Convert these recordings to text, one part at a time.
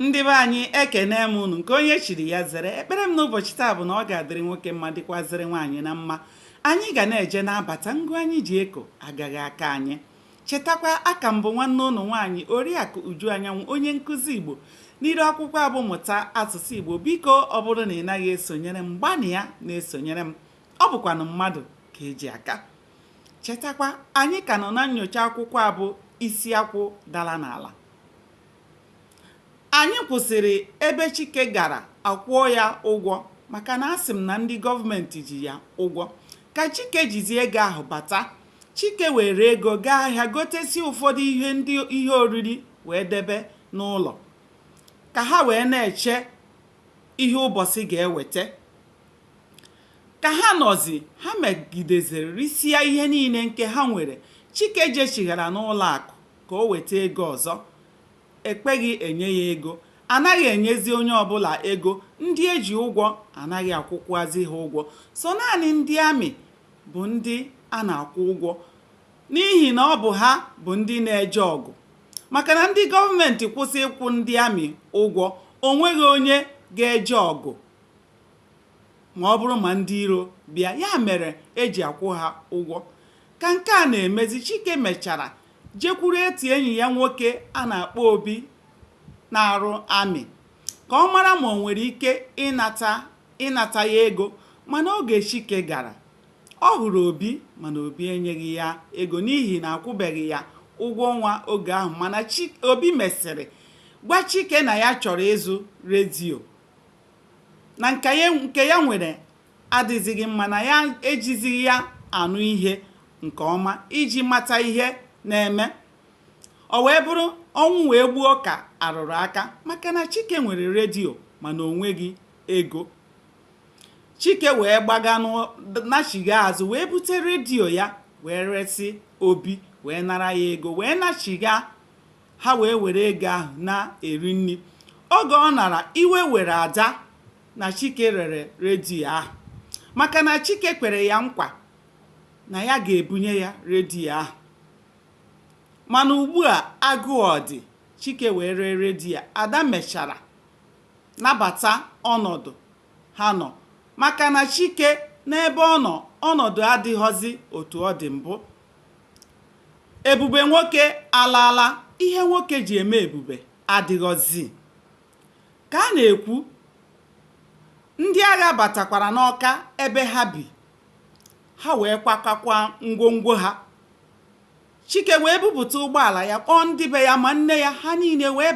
ndị be anyị ekenee m unu nke onye chiri ya zere ekpere m n'ụbọchị taa bụ na ọ ga-adịrị nwoke mma dịkwazịrị nwaanyị na mma anyị ga na-eje na-abata ngụ anyị ji eko agaghị aka anyị chetakwa aka m bụ nwanne unu nwaanyị oriakụ uju anyanwụ onye nkụzi igbo n'iru akwụkwọ a bụ mụta asụsụ igbo biko ọ bụrụ na ị naghị esonyere m gbanịa na-esonyere m ọ bụkwanụ mmadụ ka e ji aka chetakwa anyị ka nọ na nyocha akwụkwọ a bụ isi akwụ dara n'ala Anyị kwụsịrị ebe Chike gara a kwụọ ya ụgwọ maka na asị m na ndị gọọmenti ji ya ụgwọ. Ka Chike jizi ego ahụ bata, Chike were ego gaa ahịa gotesie ụfọdụ ihe ndị ihe oriri wee debe n'ụlọ ka ha wee na-eche ihe ụbọchị ga-eweta. Ka ha nọzi, ha megideziri risịa ihe niile nke ha nwere. Chike jechighara n'ụlọ akụ ka o weta ego ọzọ. E kweghị enye ya ego. A naghị enyezi onye ọbụla ego. Ndị e ji ụgwọ a naghị akwụkwazị ha ụgwọ. Sọ naanị ndị amị bụ ndị a na-akwụ ụgwọ n'ihi na ọ bụ ha bụ ndị na-eje ọgụ. Maka na ndị gọọmenti kwụsị ịkwụ ndị amị ụgwọ, o nweghị onye ga-eje ọgụ ma ọ bụrụ ma ndị iro bịa ya mere e ji akwụ ha ụgwọ ka nke a na-emezi chike mechara jekwuru otu enyi ya nwoke a na-akpọ obi na-arụ amị ka ọ mara ma o nwere ike ịnata ịnata ya ego mana oge chike gara ọ hụrụ obi mana obi enyeghị ya ego n'ihi na a kwụbeghị ya ụgwọ ọnwa oge ahụ mana obi mesịrị gwa chike na ya chọrọ ịzụ redio na nke ya nwere adịzighị mma na ya ejizighị ya anụ ihe nke ọma iji mata ihe na-eme ọ wee bụrụ ọnwụ wee gbuo ka a rụrụ aka maka na chike nwere redio mana o nweghị ego chike wee gbaga nachigha azụ wee bute redio ya wee resi obi wee nara ya ego wee nachigha ha wee were ego ahụ na-eri nri oge ọ nara iwe were ada na chike rere redio ahụ maka na chike kwere ya nkwa na ya ga-ebunye ya redio ahụ mana ugbu a agụụ dị chike wee ree redio ada mechara nabata ọnọdụ ha nọ maka na chike n'ebe ọ nọ ọnọdụ adịghọzi otu ọ dị mbụ Ebube nwoke alaala, ihe nwoke ji eme ebube adịghọzi. Ka a na-ekwu, ndị agha batakwara n'Ọka ebe ha bi, ha wee kwakọkwa ngwongwo ha. Chike wee bupụta ụgbọala ya kpọọ ndị be ya ma nne ya ha niile wee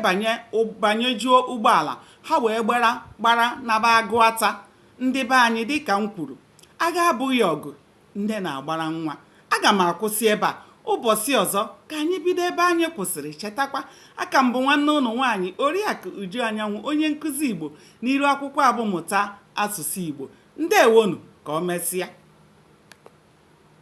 banyejuo ụgbọala ha wee gbara naba Agụata ndị be anyị dịka m kwuru agha abụghị ọgụ nne na-agbara nwa aga m akwụsị ebe a ụbọchị ọzọ ka anyị bido ebe anyị kwụsịrị chetakwa aka m bụ nwanne ụnụ nwaanyị oriakụ uju anyanwụ onye nkụzi igbo n'iru akwụkwọ a bụ mụta asụsụ igbo ndewonu ka ọ mesịa